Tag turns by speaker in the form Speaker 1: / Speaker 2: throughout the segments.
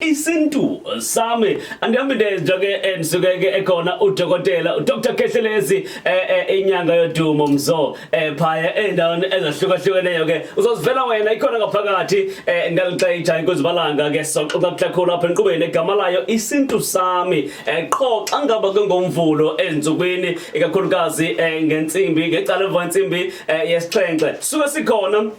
Speaker 1: isintu sami angihambi ndenja ke ndisuke ke ekhona udokotela uDr Kehlelezi eh, eh, inyanga yodumo mzo eh, phaya endaweni ezahlukahlukeneyo ke uzozivela wena ikhona ngaphakathi ngalixayitha inkuzibalanga ke soxoxa kuhlakhulu apha enqubeni egama layo isintu sami qho xa ngaba ke ngomvulo ezinsukwini ikakhulukazi ngentsimbi ngecala emva entsimbi yesixhenxe suke sikhona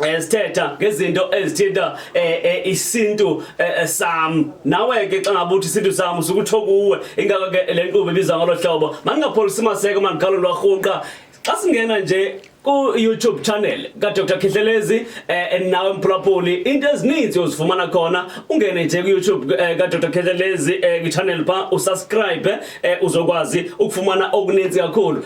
Speaker 1: Eh, sithetha ngezinto ezithinta eh, eh, isintu sami nawe ke xa ngabe uthi isintu sami usukuthi okuwe ingako ke le nkqubo ibiza ngolo hlobo mandingapholisi maseko mandiqalo lwarhunqa xa singena nje ku-youtube channel kadr khihlelezi um nawe mphulaphuli into ezininzi uzifumana khona ungene nje kuyoutube eh, kadr khihlelezi um eh, kwichannel pha usubscribe um uzokwazi ukufumana okuninzi kakhulu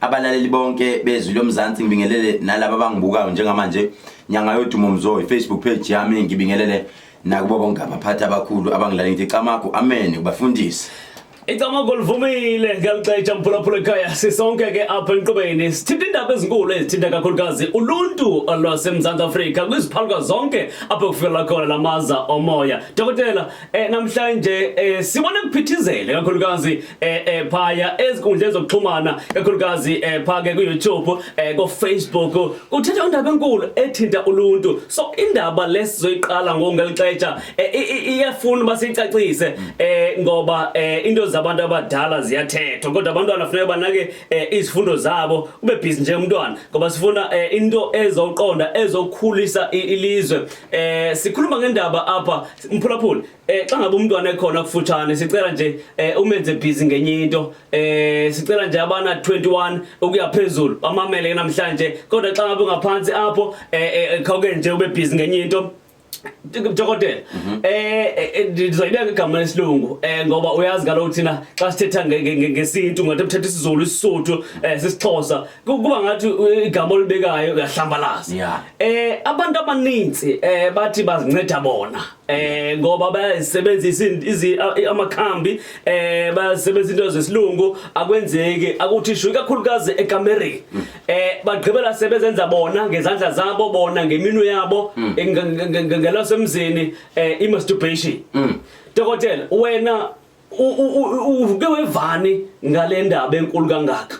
Speaker 2: abalaleli bonke bezwi lomzansi ngibingelele nalabo abangibukayo njengamanje nyanga yodumo mzo ifacebook page yami ngibingelele nakubo bonke abaphathi abakhulu abangilale ngithi camagu amen kubafundisi icamagu
Speaker 1: livumile ngiyaluxetsha mphulaphula ekhaya sisonke ke apha enqubeni sithinta iindaba ezinkulu ezithinta kakhulukazi uluntu lwasemzantsi afrika kwiziphaluka zonke apho kufikelela khona la maza omoya dokotela eh, namhlanje eh, sibone kuphithizele kakhulukazi eh, eh, phaya ezinkundleni zokuxhumana kakhulukazi eh, phake ku-youtube eh, kofacebook kuthetha indaba enkulu ethinta uluntu so indaba lesizoyiqala ngokungelixetsha eh, i- i- iyafuna uba siyicacise eh, ngoba eh, into zabantu abadala ziyathethwa kodwa abantwana funeka banake eh, izifundo zabo ube bhizi njengomntwana ngoba sifuna eh, into ezoqonda ezokhulisa i- ilizwe eh, sikhuluma ngendaba apha Mphulaphula eh xa ngabe umntwana ekhona kufutshane sicela nje eh umenze busy ngenye into eh sicela nje abana 21 ukuya phezulu bamamele namhlanje kodwa xa ngabe ungaphansi apho eh, eh, eh khawuke nje ube busy ngenye into dokotela mhm. eh, eh, eh ndizoyibeka igama lesilungu eh ngoba uyazi kaloku thina xa sithetha ngesintu ngathi uthetha isiZulu isiSotho eh sisixhosa kuba ngathi uh, igama olibekayo uyahlambalaza yeah. eh abantu abaninzi eh bathi bazinceda bona eh ngoba bayasebenzisa izi amakhambi eh basebenzisa into zesilungu akwenzeki akuthishu ikakhulukazi eCameroon mm. eh bagqibela sebezenza bona ngezandla zabo bona ngeminu yabo mm. ngelasemzini eh imasturbation mm. dokotela wena uke wevani ngalendaba enkulu kangaka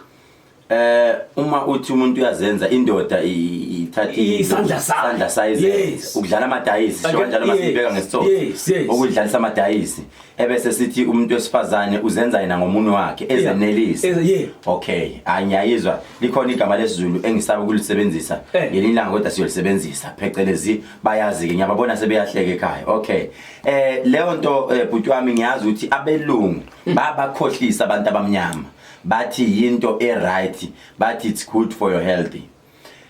Speaker 1: eh
Speaker 2: uma uthi umuntu uyazenza indoda ithatha isandla sandla
Speaker 1: size
Speaker 2: ukudlala amadayisi sho kanjalo uma sibeka ngesithobo ukudlalisa amadayisi ebese sithi umuntu wesifazane uzenza yena ngomunwe wakhe ezenelisa okay angiyayizwa likhona igama lesizulu engisaba ukulisebenzisa eh. ngelinye ilanga kodwa siyolisebenzisa phecelezi bayazi ke ngiyababona sebeyahleka ekhaya okay eh leyo nto eh, bhuti wami ngiyazi ukuthi abelungu hmm. babakhohlisa abantu abamnyama bathi yinto e right bathi it's good for your healthy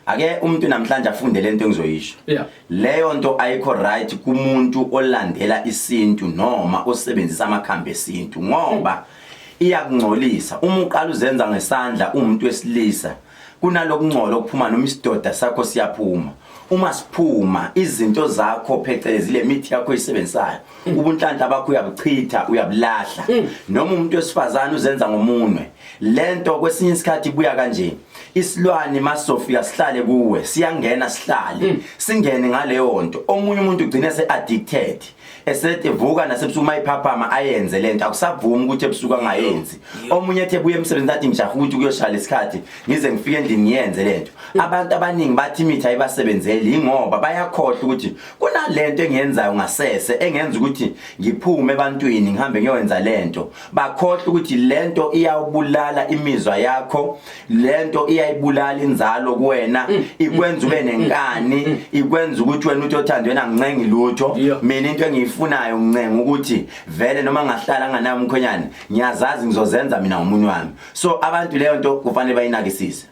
Speaker 2: ake umuntu namhlanje afunde lento engizoyisho yeah. leyo nto ayikho right kumuntu olandela isintu noma osebenzisa amakhambi esintu ngoba mm. iyakungcolisa uma uqala uzenza ngesandla umuntu wesilisa mm. kunalokungcola okuphuma noma isidoda sakho siyaphuma uma siphuma izinto zakho phecelezi le mithi yakho isebenzisayo mm. ubunhlanhla bakho uyabuchitha uyabulahla mm. noma umuntu wesifazane uzenza ngomunwe lento kwesinye isikhathi ibuya kanje isilwane masofika sihlale kuwe siyangena sihlale mm. singene ngaleyo nto omunye umuntu ugcine se addicted esethi vuka nasebusuku uma iphaphama ayenze lento akusavumi ukuthi ebusuku angayenzi omunye ethe buye emsebenzini athi ngijaha ukuthi kuyoshaya lesikhathi ngize ngifike endlini ngiyenze lento abantu abaningi bathi imithi ayibasebenzeli yingoba bayakhohlwa ukuthi kunalento engiyenzayo ngasese engenza ukuthi ngiphume ebantwini ngihambe ngiyowenza lento bakhohlwa ukuthi lento iyawubulala imizwa yakho lento iyayibulala inzalo kuwena mm. ikwenza ube mm. nenkani mm. ikwenza ukuthi wena uthi othandwe nangincengi lutho mina into engiyifunayo ngincenga ukuthi vele noma ngahlala nganayo umkhonyane ngiyazazi ngizozenza mina ngomunye wami so abantu leyo nto kufanele bayinakisise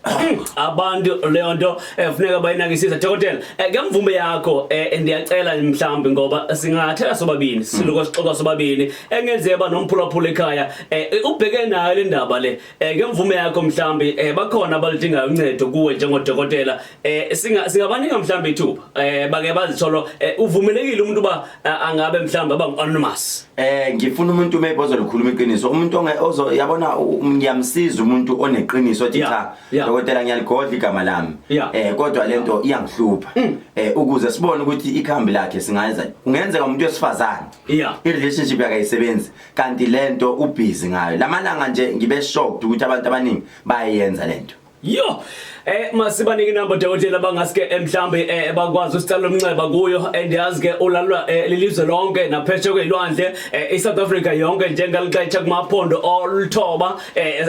Speaker 2: abantu
Speaker 1: leyo nto efuneka eh, bayinakisise dokotela eh, ngemvume yakho eh, ndiyacela mhlawumbi ngoba singathela sobabini siluko sixoxa sobabini engenzeka nomphulaphula ekhaya ubheke nayo le ndaba le eh ngemvume yakho mhlambi eh bakhona abalidingayo uncedo kuwe njengodokotela eh singa singabaninga mhlambi ithuba eh bake bazitholo eh, uvumelekile umuntu ba eh, angabe mhlambi aba anonymous eh ngifuna umuntu
Speaker 2: maybe ozolikhuluma iqiniso umuntu onge ozo yabona ngiyamsiza umuntu oneqiniso ethi cha dokotela ngiyaligodla igama lami eh kodwa lento iyangihlupha mm. eh ukuze sibone ukuthi ikhambi lakhe singayenza kungenzeka umuntu wesifazane i relationship yakayisebenzi kanti lento ubhizi ngayo lamalanga nje ngibe shocked ukuthi abantu abaningi bayayenza lento yo
Speaker 1: eh masibanike inamba dokotela bangaske eh, mhlambe eh, bakwazi usicela umnxeba kuyo and eh, yazi ke ulalwa lelizwe lonke napheshe kwelwandle iSouth Africa yonke njengalixetsha kumaphondo oluthoba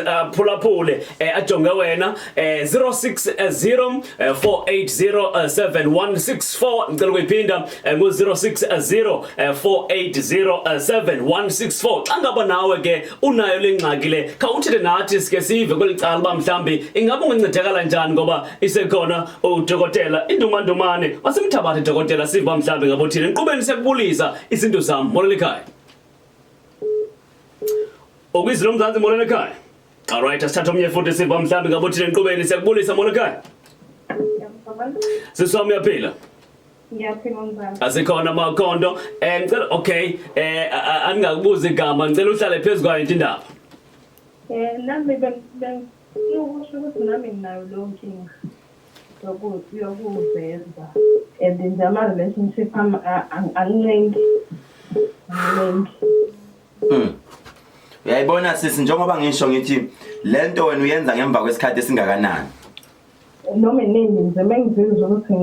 Speaker 1: aphulaphule ajonge wena 060 480716 ngicela ukuyiphinda eh, ngo 0604807164 xa ngaba nawe ke unayo lengxaki le khawuthile nathi sike sive kwelicala uba mhlambi ingabe ungancedakala njani ngoba isekhona udokotela indumandumane wasemthabathe dokotela sive uba mhlambi ngabo thina enkqubeni sekubulisa izinto zam molele ekhaya okuyizilo mzansi molele ekhaya Alright, asithatha omnye futhi siva mhlambi ngabe uthini enqubeni siyakubulisa Molokai. Sisi wami uyaphila. Ngiyaphila
Speaker 3: mzala. Asikhona makhondo.
Speaker 1: Eh ngicela okay, eh a- a- angingakubuzi igama, ngicela uhlale phezu kwayo into indaba. Eh nami beng- bengifuna
Speaker 3: ukusho ukuthi nami nginayo leyo nkinga yoku- yokuveza and nje ama-relationship ami a- ang- angilengi angilengi
Speaker 2: Mm. Uyayibona sisi njengoba ngisho ngithi lento wena uyenza ngemva kwesikhathi esingakanani? Noma
Speaker 3: nini nje mengizizwa ukuthi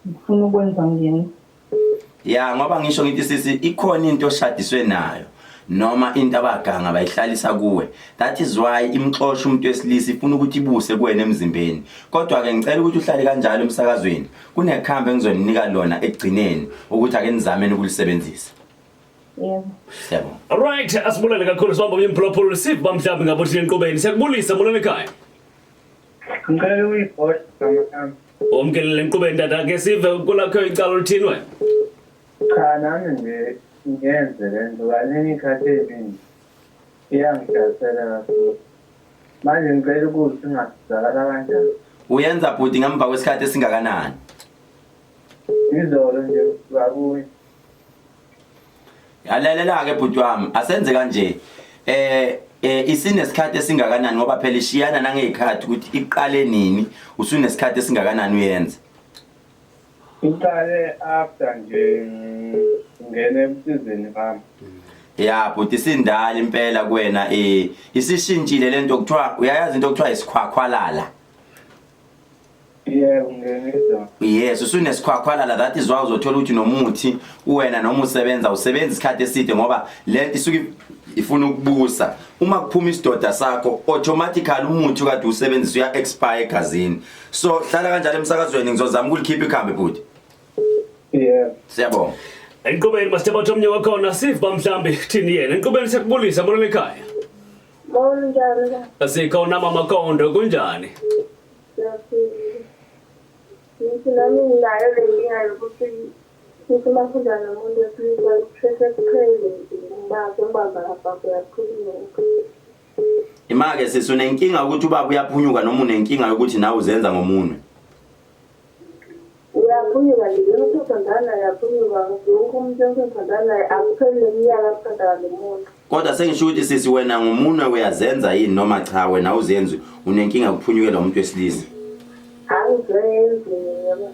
Speaker 3: ngifuna ukwenza ngene. Ya
Speaker 2: ngoba ngisho ngithi sisi ikhona into oshadiswe nayo. noma into abaganga bayihlalisa kuwe that is why imxosha umuntu wesilisa ifuna ukuthi ibuse kuwena emzimbeni kodwa ke ngicela ukuthi uhlale kanjalo emsakazweni kunekhambe engizoninika lona ekugcineni ukuthi ake nizameni ukulisebenzisa
Speaker 3: Yebo. Siyabonga. Alright,
Speaker 1: asibulele kakhulu sibamba kunye mphulaphula siva mhlawumbe ngabe uthi enqubeni. Siyakubulisa mulana ekhaya. Ngicela
Speaker 4: uyipost mama yami. Omkelele enqubeni
Speaker 1: tata ke sive kulakho icala oluthini wena. Cha
Speaker 4: nami nje ngiyenze le nto kaningi ikhathi eziningi iyangidayisela kakhulu. Manje ngicela ukuthi singasizakala kanjani. Uyenza bhuti
Speaker 2: ngemva kwesikhathi esingakanani? Izolo
Speaker 4: nje bakuye.
Speaker 2: yalalela ke bhuti wami asenze kanje eh eh isinesikhathi esingakanani ngoba phela ishiyana nangezikhathi ukuthi iqale nini usunesikhathi esingakanani uyenza iqale
Speaker 4: after nje ngene emsizini bami ya bhuti
Speaker 2: isindala impela kuwena eh isishintshile lento kuthiwa uyayazi into kuthiwa isikhwakhwalala
Speaker 4: Yebo ngenizwa. Yes,
Speaker 2: usunesikhwakhwalala that is why uzothola ukuthi nomuthi uwena noma usebenza usebenza isikhathi eside ngoba lento isuke ifuna ukubusa. Uma kuphuma isidoda sakho automatically umuthi kade usebenzisa uya expire egazini. So hlala kanjalo emsakazweni ngizozama ukulikhipha ikhambe bhuti. Yebo.
Speaker 4: Siyabonga.
Speaker 2: Enqubeni masithemba
Speaker 1: ukuthi omnye wakhona siva mhlambi thini yena. Enqubeni siyakubulisa mbona ekhaya.
Speaker 3: Sikhona mama Kondo kunjani?
Speaker 1: Ngithi nami nginayo le nkinga yokuthi ngithi uma funda nomuntu
Speaker 3: wesilisa kusheshe kuphele ngibazwe ngibamba lapha kuyakhulunywa
Speaker 2: Imake sisi unenkinga ukuthi ubaba uyaphunyuka noma unenkinga yokuthi nawe uzenza ngomunwe?
Speaker 3: Uyaphunyuka nje lona usothandana naye yaphunyuka wonke umuntu esothandana naye akupheli neminyaka asithanda ngalo muntu kodwa sengisho ukuthi
Speaker 2: sisi wena ngumunwe uyazenza yini noma cha wena awuzenzi unenkinga kuphunyukela umuntu wesilisa angizenzi
Speaker 1: yebo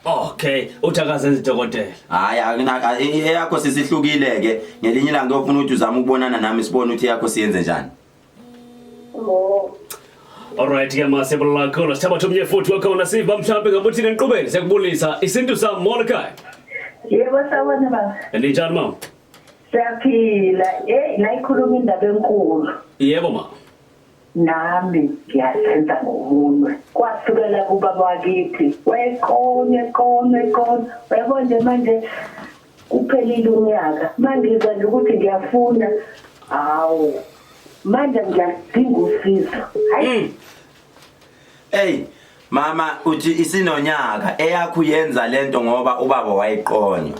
Speaker 1: Okay, uthi akazenzi dokotela. Hayi akunaka e- e-
Speaker 2: eyakho sisihlukile ke. Ngelinye ilanga uyofuna ukuthi uzama ukubonana nami sibone ukuthi eyakho siyenze njani.
Speaker 1: Alright ke ma siyabulala kakhulu sithabathe omnye futhi wakhona siva mhlawumbe ngabe uthini eniqubeni siyakubulisa isintu sami Mordecai Yebo
Speaker 3: sawona baba. ninjani mama
Speaker 1: Siyaphila.
Speaker 3: Hey, nayikhuluma indaba enkulu. yebo ma Nami ngiyasenza
Speaker 1: ngomunwe.
Speaker 3: Kwasukela kubaba wakithi. Wayeqonywe, eqonywe, eqonywe. Uyabo nje manje kuphelile unyaka mangizwa nje ukuthi ngiyafuna hawu manje ngiyadinga usizo hayi mm. hey
Speaker 2: mama uthi isinonyaka eyakho yenza lento ngoba ubaba wayiqonywa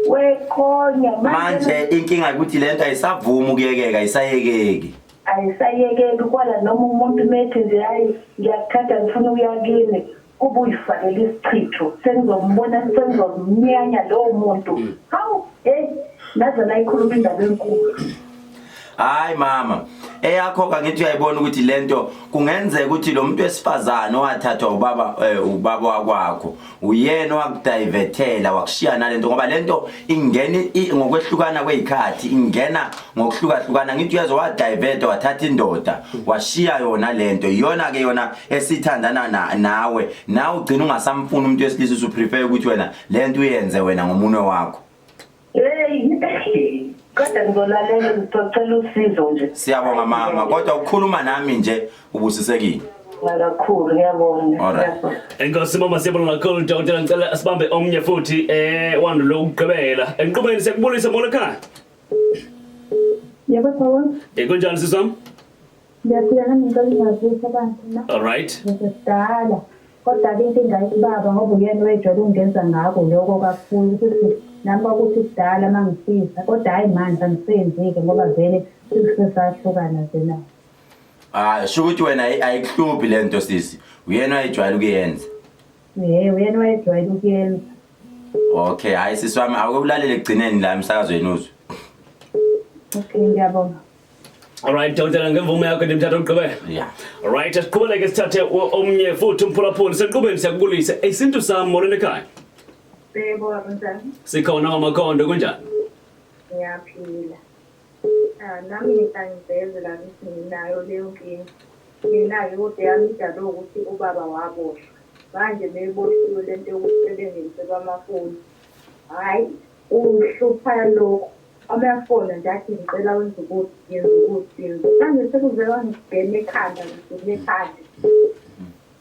Speaker 2: weqonya manje inkinga ukuthi lento
Speaker 3: ayisavumi
Speaker 2: ukuyekeka ayisayekeki
Speaker 3: ayisayekeki kwala noma umuntu methi nje hayi ngiyakuthatha ngifuna ukuyakini Ubuyifakele isichitho sengizombona sengizomnyanya lowo muntu. Mm. Hawu hey naze
Speaker 2: nayikhuluma indaba enkulu. Hayi mama eyakho kangithi uyayibona ukuthi lento kungenzeka ukuthi lo muntu wesifazane owathathwa ubaba eh, ubaba wakwakho uyena owakudivethela wakushiya nalento ngoba lento ingena ngokwehlukana kwezikhathi ingena ngokuhlukahlukana ngithi uyezwa wadiveta wathatha indoda washiya yona lento iyona ke yona esithandana na, nawe nawe ugcina ungasamfuni umuntu wesilisa usuprefer ukuthi wena lento uyenze wena ngomunwe wakho hey kodwa
Speaker 3: ngizolalela ngizocela usizo nje siyabonga mama kodwa
Speaker 2: ukukhuluma nami nje ubusisekile kakhulu ngiyabonga
Speaker 3: Alright.
Speaker 2: Enkosi mama
Speaker 1: siyabonga kakhulu dokotela ngicela sibambe omnye futhi eh wandule ukugqibela. Enqubeni sekubulisa molo ekhaya.
Speaker 3: Yebo baba. Eh kunjani sizam?
Speaker 1: Ngiyaphila
Speaker 3: nami ngicela ungabuza abantu na. All right. Ngisidala. Kodwa ke inkinga ibaba ngoba uyena wejwayele ukungenza ngako lokho kakhulu ukuthi nami kwakuthi kudala uma ngifisa kodwa hhayi manje angisenzike ngoba vele sesisahlukana nje nawo. Ah sho ukuthi wena ayi-
Speaker 2: ayikuhluphi le nto sisi. Uyena ayijwayele ukuyenza.
Speaker 3: Hey, uyena wayejwayele ukuyenza.
Speaker 2: Okay, hayi sisi wami awuke ulalele ekugcineni la emsakazweni uzwe.
Speaker 3: Okay, ngiyabonga. Alright,
Speaker 1: Dawudela ngemvume yakho ndimthatha uqhubeka. Yeah. Alright,
Speaker 2: siqhubeleke
Speaker 1: sithathe o- omnye futhi umphulaphuli senqubeni siyakubulisa. Isintu sami molweni ekhaya. Bebo, mntana,
Speaker 3: Sikhona wamakhondo
Speaker 1: kunjani?
Speaker 3: ngiyaphila. Nami angiveze la ngithi nginayo leyo nkinga. Mina-ke kodwa eyami idalwe wukuthi ubaba waboshwa. Manje uma eboshiwe le nto yokuthi sebengeniselwa amafoni, hhayi ungihlupha lokhu. Uma efona nje athi ngicela wenze ukuthi, ngenza ukuthi, ngenza ukuthi. Manje sekuze kwangigena ekhanda, ngigena ekhanda.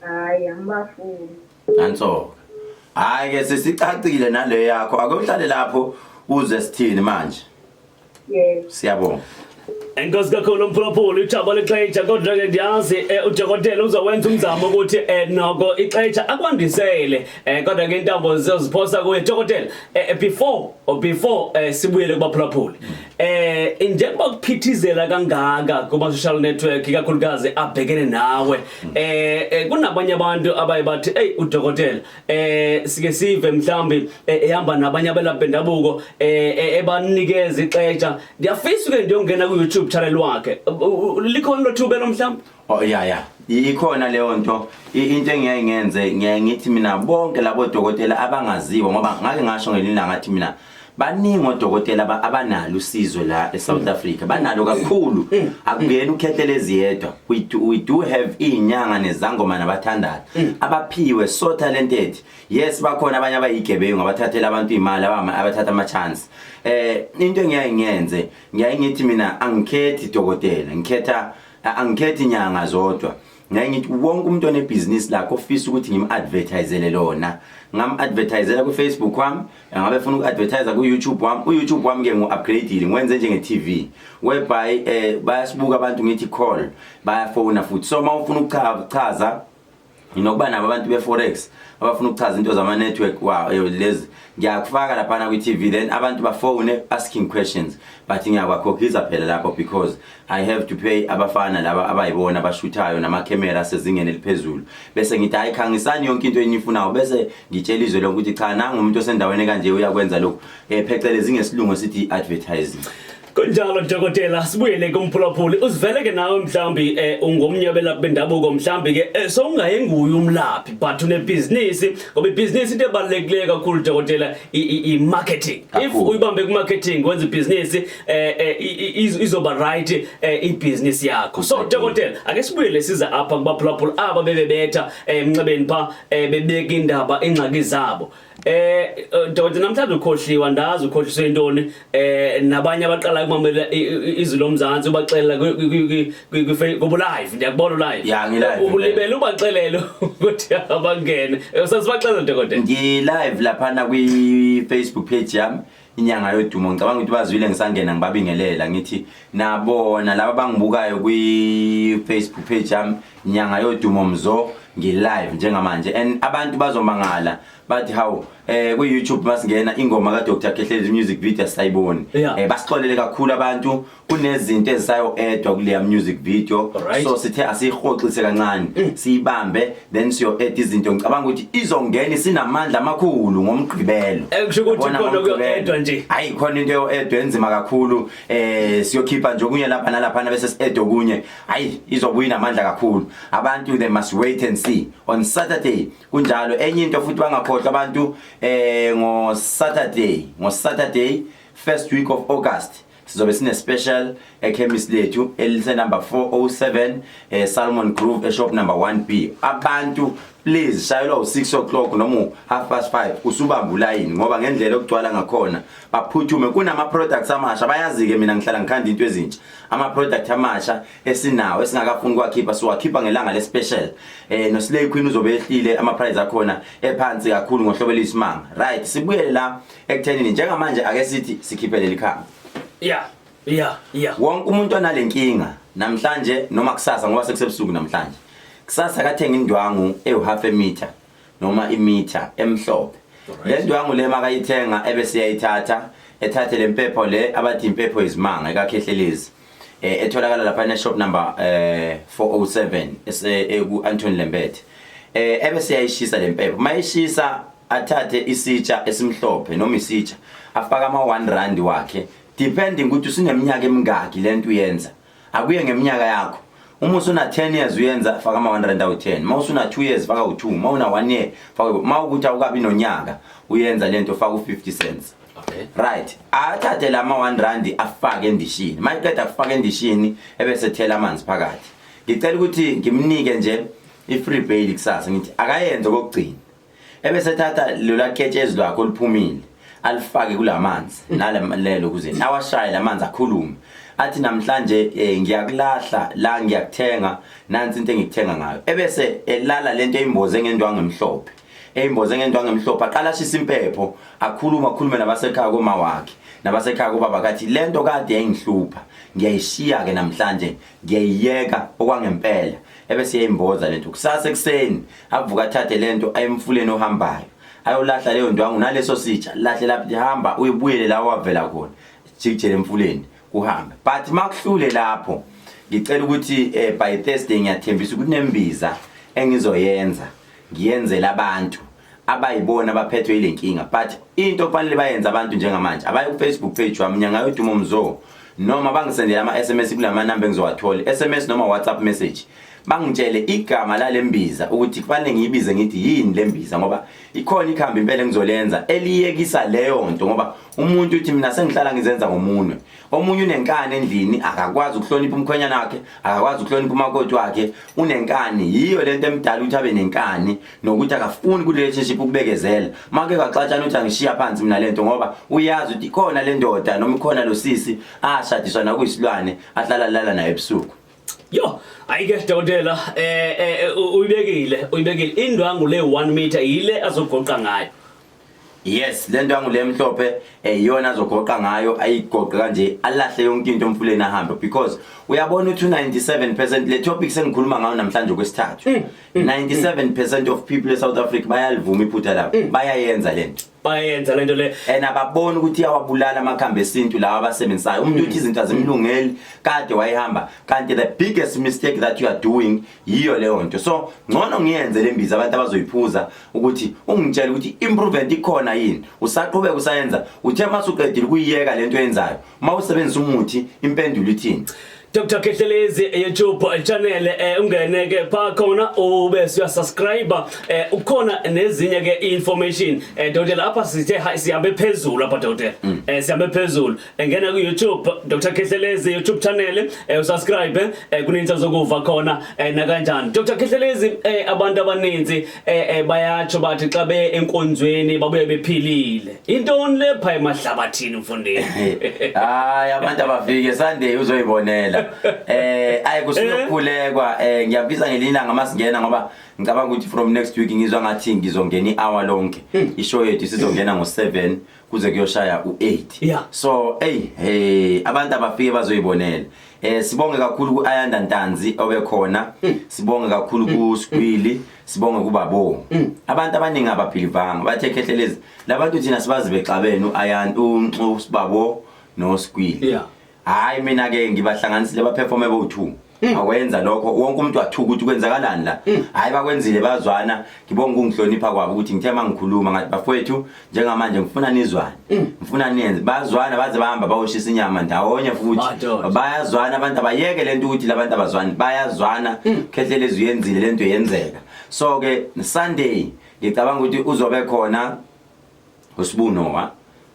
Speaker 3: Hayi angibafuni.
Speaker 2: Nanso. Hayi ke sesicacile nale yakho ake uhlale lapho uze sithini manje. Yebo.
Speaker 3: Siyabonga.
Speaker 2: Enkosi
Speaker 1: kakhulu mphulaphula ijaba lexetsha kodwa ke ndiyazi eh, udokotela uzowenza umzamo ukuthi eh, noko ixetsha akwandisele eh, kodwa ke intambo zizoziphosa kuye dokotela eh, eh, before or before eh, sibuyele kubaphulaphuli Eh njengoba kuphithizela kangaka kuma social network ikakhulukazi abhekene nawe eh, eh kunabanye abantu abaye bathi hey udokotela eh sike sive mhlambi eh, ehamba nabanye abelaphi bendabuko eh, eh ebanikeza ixesha ngiyafisa ke ndiyongena ku YouTube channel wakhe likhona lothuba lomhlambi Oh ya ya.
Speaker 2: Ikhona leyo nto into engiyaye ngenze ngiyaye ngithi mina bonke labo dokotela abangaziwa ngoba ngake ngasho ngelinda ngathi mina baningi odokotela aba- abanalo usizo la eSouth Africa banalo kakhulu akungeni ukhethe lezi yedwa we do, we do have inyanga nezangoma nabathandayo abaphiwe so talented yes bakhona abanye abayigebengu abathathela abantu imali abama abathatha ama chance eh into engiyaye ngiyenze ngiyaye ngithi mina angikhethi dokotela ngikhetha angikhethi nyanga zodwa ngeke ngithi wonke umuntu onebhizinisi lakhe ofisa ukuthi ngim-advertisele lona ngam-advertisela kwi-facebook wami ngabe funa uku-advertise ku-youtube wami u-youtube wami-ke ngu-upgradile ngiwenze njenge-tv whereby um bayasibuka abantu ngithi call bayafona futhi so uma ufuna ukuchaza nginokuba nabo abantu be-forex abafuna ukuchaza into zama-network wow eh, lezi ngiyakufaka laphana kwi-tv then abantu bafone asking questions but ngiyakwakhokhisa phela lapho because i have to pay abafana laba abayibona abashuthayo namakhemera asezingeni eliphezulu bese ngithi hayi khangisani yonke into eniyifunayo bese ngitshela izwe lokuthi cha nangu umuntu osendaweni kanje uyakwenza lokhu um phecelezi ngesilungu esithi i-advertising kunjalo
Speaker 1: dokotela sibuyele kumphulaphuli uzivele ke nawe mhlawumbi um eh, ungomnye abelaphi bendabuko mhlawumbi ke um sowungaye nguye umlaphi but unebhizinisi ngoba ibhizinisi into ebalulekileyo kakhulu dokotela i-marketing if uyibambe kwi-marketing wenza ibhizinisi um izoba right um ibhizinisi yakho so dokotela ake sibuyele siza apha kubaphulaphula aba bebebetha um emnxebeni pha um bebeka indaba iingxaki zabo Eh Dodi namhlanje ukhohliwa ndazi ukhohliswe intoni eh nabanye abaqala ukumamela izwi lomzansi ubaxelela kubu live ndiyakubona live ya ngi live ubulibele
Speaker 2: ubaxelele
Speaker 1: ukuthi abangene eh, usasibaxelela dokotela ngi live lapha
Speaker 2: na kwi Facebook page yami inyanga yodumo ngicabanga ukuthi bazwile ngisangena ngibabingelela ngithi nabona laba bangibukayo kwi-facebook page yami nyanga yodumo mzo ngi-live njengamanje and abantu bazomangala bathi hawu eh ku YouTube masingena ingoma ka Dr Kehlezi music video sayiboni yeah. eh basixolele kakhulu abantu kunezinto ezisayo-edwa kuleya music video Alright. so sithe asiyihoxise kancane siyibambe then siyo-eda izinto ngicabanga ukuthi izongena isinamandla amakhulu ngomgqibelo Eh, kusho ukuthi Yabona, khona
Speaker 1: ngomgqibelo. kuyo-edwa nje. hayi khona into yo-edwa
Speaker 2: enzima kakhulu um siyokhipha nje okunye lapha nalaphana bese si-eda okunye hayi izobuya inamandla kakhulu abantu they must wait and see on saturday kunjalo enye into futhi bangakhohlwa abantu um ngosaturday ngosaturday first week of august sizobe sine special ekhemisi lethu elise number 407 eh, Salmon Groove eshop number 1B abantu please shayelwa u6 o'clock noma half past 5 usubamba ulayini ngoba ngendlela okugcwala ngakhona baphuthume kunama products amasha bayazike mina ngihlala ngikhanda into ezintsha ama product amasha esinawo esingakafuni kwakhipha siwakhipha ngelanga le special eh no Slay Queen uzobe ehlile ama price akhona ephansi kakhulu ngohlobo elisimanga right sibuyele la ekuthenini njengamanje ake sithi sikhiphe leli khamba yeah
Speaker 1: yeah yeah wonke
Speaker 2: umuntu onale nkinga namhlanje noma kusasa ngoba sekusebusuku namhlanje kusasa kathenga indwangu ewu-half emitha noma imitha emhlophe le ndwangu le makayithenga ebeseyayithatha ethathe le mpepho le abathi impepho yizimanga ekakhehlelezi eh etholakala lapha ne shop number eh 407 ese eh, ku Anton Lembethe eh ebe siyayishisa lempepho mayishisa athathe isitsha esimhlophe noma isitsha afaka ama 1 rand wakhe depending ukuthi usineminyaka emingaki lento uyenza akuye ngeminyaka yakho uma usuna 10 years uyenza faka ama 1 rand awu 10 uma usuna 2 years faka u2 uma una 1 year faka uma ukuthi awukabi nonyaka uyenza lento faka u 50 cents Okay. Right. Athathe lama 1 rand afake endishini. Mayiqeda kufaka endishini ebese thela amanzi phakathi. Ngicela ukuthi ngimnike nje i free bail kusasa ngithi akayenze kokugcina. Ebese thatha lola ketshezi lwakho liphumile alifake kulamanzi nalemlelo kuze nawashaye lamanzi akhulume. Athi namhlanje eh, ngiyakulahla la ngiyakuthenga nansi into engikuthenga ngayo. Ebese elala lento eyimboze ngendwangu emhlophe. eyimboze ngendwangu emhlophe aqala ashisa impepho akhuluma akhulume nabasekhaya koma wakhe nabasekhaya kobaba kathi lento kade yayingihlupha ngiyayishiya ke namhlanje ngiyayiyeka okwangempela ebese yayimboza lento kusasa ekuseni avuka athathe lento ayemfuleni ohambayo ayolahla leyo ndwangu naleso sitsha lahle lapho lihamba uyibuyele la wavela khona jikjele emfuleni kuhambe but makuhlule lapho ngicela ukuthi eh, by Thursday ngiyathembisa ukuthi nembiza engizoyenza ngiyenzela abantu abayibona abaphethwe ile nkinga but into okufanele bayenze abantu njengamanje abaye kufacebook page wami nyangayo dumo mzo noma bangisendele ama-sms kula manamba engizowathola i-sms noma whatsapp message bangitshele igama lale mbiza ukuthi kufanele ngiyibize ngithi yini le mbiza ngoba ikhona ikhambi impela engizolenza eliyekisa leyo nto ngoba umuntu uthi mina sengihlala ngizenza ngomunwe omunye unenkani endlini akakwazi ukuhlonipha umkhwenyana wakhe akakwazi ukuhlonipha umakoti wakhe unenkani yiyo lento emdala ukuthi abe nenkani nokuthi akafuni ku relationship ukubekezela make kwaxatshana uthi angishiya phansi mina lento ngoba uyazi ukuthi ikhona le ndoda noma ikhona lo sisi ashadiswa nakuyisilwane ahlala lala naye ebusuku yo
Speaker 1: ayike dokotela eh, eh, eh uyibekile uyibekile indwangu le 1 meter yile azogoqa ngayo yes
Speaker 2: lento yangu le mhlophe eyona eh, azogoqa ngayo ayigoqe kanje alahle yonke into omfuleni ahambe because uyabona uthi 97% le topic sengikhuluma ngayo namhlanje kwesithathu 97% mm, mm, mm. of people e South Africa bayalivuma iphutha labo bayayenza lento bayenza lento le and ababoni ukuthi iyawabulala amakhambi esintu lawa abasebenzisayo umuntu uthi izinto azimlungeli kade wayihamba kanti the biggest mistake that you are doing yiyo leyo nto so ngcono ngiyenze le mbiza abantu abazoyiphuza ukuthi ungitshele ukuthi improvement ikhona yini usaqhubeka usayenza uthe uma suqedile ukuyiyeka le nto yenzayo uma usebenzisa umuthi impendulo ithini Dr
Speaker 1: Kehlelezi eh, YouTube eh, channel eh, ungene ke pha khona ube siya subscribe eh, ukhona nezinye ke information eh, Dr lapha sithe siyabe phezulu apha Dr mm. eh, siyabe phezulu engena ku-youtube dr khehlelezi youtube channel um eh, usubscribe um eh, kuninzi azokuva khona um nakanjani dr khehlelezi um abantu abaninzi um bayatsho bathi xa beye enkonzweni babuye bephilile intoni le pha emahlabathini mfundini hayi
Speaker 2: abantu abafike sunday uzoyibonela um ayi kusuyokhulekwa um ngiyabiza ngelinye ilanga uma singena ngoba ngicabanga ukuthi from next week ngizwa ngathi ngizongena i-hour lonke hmm. ishow yethu sizongena ngo-seven kuze kuyoshaya u8 yeah. so hey hey abantu abafike bazoyibonela eh sibonge kakhulu kuAyanda Ntanzi obekhona mm. sibonge kakhulu mm. kuSgwili sibonge kubabo mm. abantu abaningi abaphilivanga bathe khehlelezi labantu thina sibazi bexabene uAyanda uNxu sibabo noSgwili yeah hayi mina ke ngibahlanganisile baperforme bowu-two Mm. awenza lokho wonke umuntu wathuka ukuthi kwenzakalani la mm. hayi bakwenzile bazwana ngibonga ukungihlonipha kwabo ukuthi ngithe uma ngikhuluma ngathi bafowethu njengamanje ngifuna nizwane mm. ngifuna niyenze bazwana baze bahamba bawoshisa inyama ndawonye futhi bayazwana abantu abayeke le nto ukuthi labantu abazwani bayazwana khehlelezi uyenzile le nto yenzeka so-ke sunday ngicabanga ukuthi uzobe khona uSbu Noah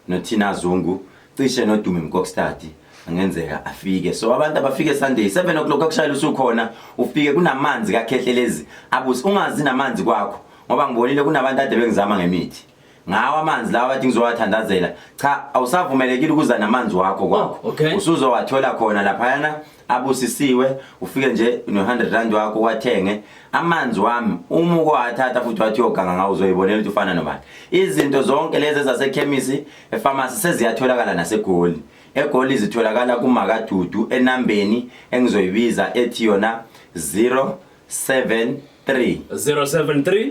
Speaker 2: noThina Zungu cishe noDumi Mkokstadi angenzeka afike so abantu abafike Sunday 7 o'clock akushayela usukhona ufike kunamanzi kakhehlelezi abuse ungazi namanzi kwakho ngoba ngibonile kunabantu ade bengizama ngemithi ngawa amanzi lawa bathi ngizowathandazela cha awusavumelekile ukuza namanzi wakho kwakho oh, okay. usuzowathola khona laphayana abusisiwe ufike nje no-100 rand wakho wathenge amanzi wami uma ukwathatha futhi wathi uyoganga ngawo uzoyibonela ukuthi ufana nobani izinto zonke lezi ezasekhemisi efamasi seziyatholakala nasegoli egoli zitholakala kumakadudu enambeni engizoyibiza ethi yona 073 073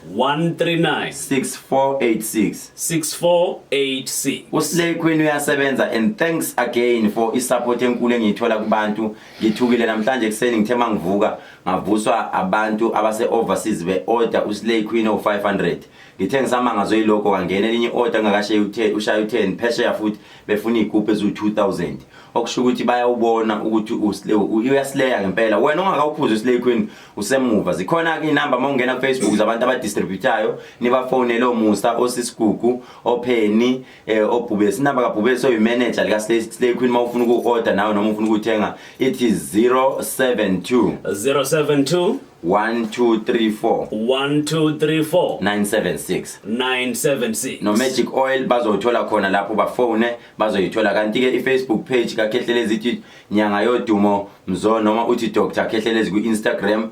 Speaker 2: 139 6486 6486 uslay queen uyasebenza and thanks again for isupport enkulu engiyithola kubantu ngithukile namhlanje kuseni ngithe mangivuka ngavuswa abantu abase overseas be order uslay queen o 500 ngithe ngisamanga zoyiloko kangena elinye order ngakashe uthe ushaya u10 phesheya futhi befuna igroup ezu 2000 okusho ukuthi bayawubona ukuthi uslay uyaslaya ngempela wena ongakawuphuza uslay queen usemuva zikhona ke inamba uma ungena kufacebook zabantu abadistributayo nibafonele omusa osisigugu opheni eh, obhubesi inamba kabhubesi oyimanager likaslay queen uma ufuna uku-order nawe noma ufuna ukuthenga ithi 072 072 1234 1234 976 976 no magic oil bazothola khona lapho bafone bazoyithola kanti ke ifacebook page kakhehlelezi ithi nyanga yodumo mzo noma uthi dr khehlelezi kwi-instagram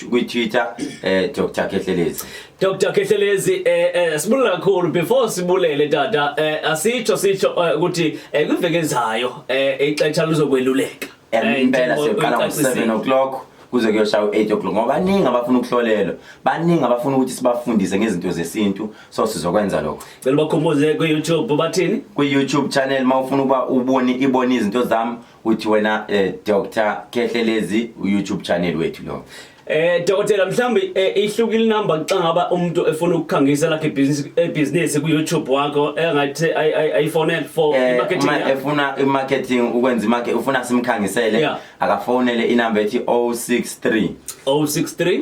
Speaker 2: kwi-twitter eh, dr khehlelezi dr khehlelezi eh, eh,
Speaker 1: sibulula kakhulu before sibulele tata eh, asitsho sitsho eh, ukuthi eh, eh, kwiveke ezayo eh, ixesha luzokweluleka eh, impela
Speaker 2: siyoqala ngo-7 o'clock kuze kuyoshaya u-8 o'clock ngoba baningi abafuna ukuhlolelwa baningi abafuna ukuthi sibafundise ngezinto zesintu so sizokwenza lokho cela bakhumbuze ku
Speaker 1: YouTube ubathini ku YouTube channel
Speaker 2: mawufuna uba ubone ibone izinto zami uthi wena eh, Dr Kehlelezi u YouTube channel wethu lo Eh dokotela
Speaker 1: mhlambi eh, ihlukile number xa ngaba umuntu efuna ukukhangisa lakhe business eh, business ku YouTube wakho engathi eh, iPhone for marketing uma efuna
Speaker 2: imarketing ukwenza imake ufuna simkhangisele akafonele inumber ethi 063 063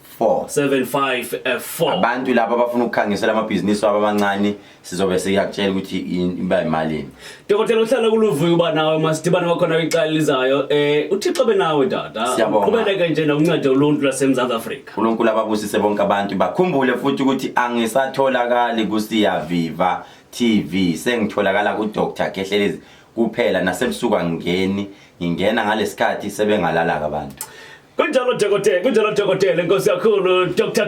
Speaker 2: 4
Speaker 1: 754 abantu laba abafuna
Speaker 2: ukukhangisela amabhizinisi wabo amancane sizobe siyakutshela ukuthi in- iba imalini dokotela uhlala
Speaker 1: kuluvuyo uba nawe masidibane kwakhona kwicala elizayo um uthixo benawe tata Siyabonga. uqhubeleke nje nokunceda uluntu lwasemzantsi afrika unkulunkulu ababusise bonke
Speaker 2: abantu bakhumbule futhi ukuthi angisatholakali kusiyaviva tv sengitholakala kudr kehlelezi kuphela nasebusuku angingeni ngingena ngalesikhathi
Speaker 1: sebengalalaka abantu kunjalo
Speaker 2: dokotela
Speaker 1: kunjalo dokotela inkosi
Speaker 2: yakhulu
Speaker 1: dr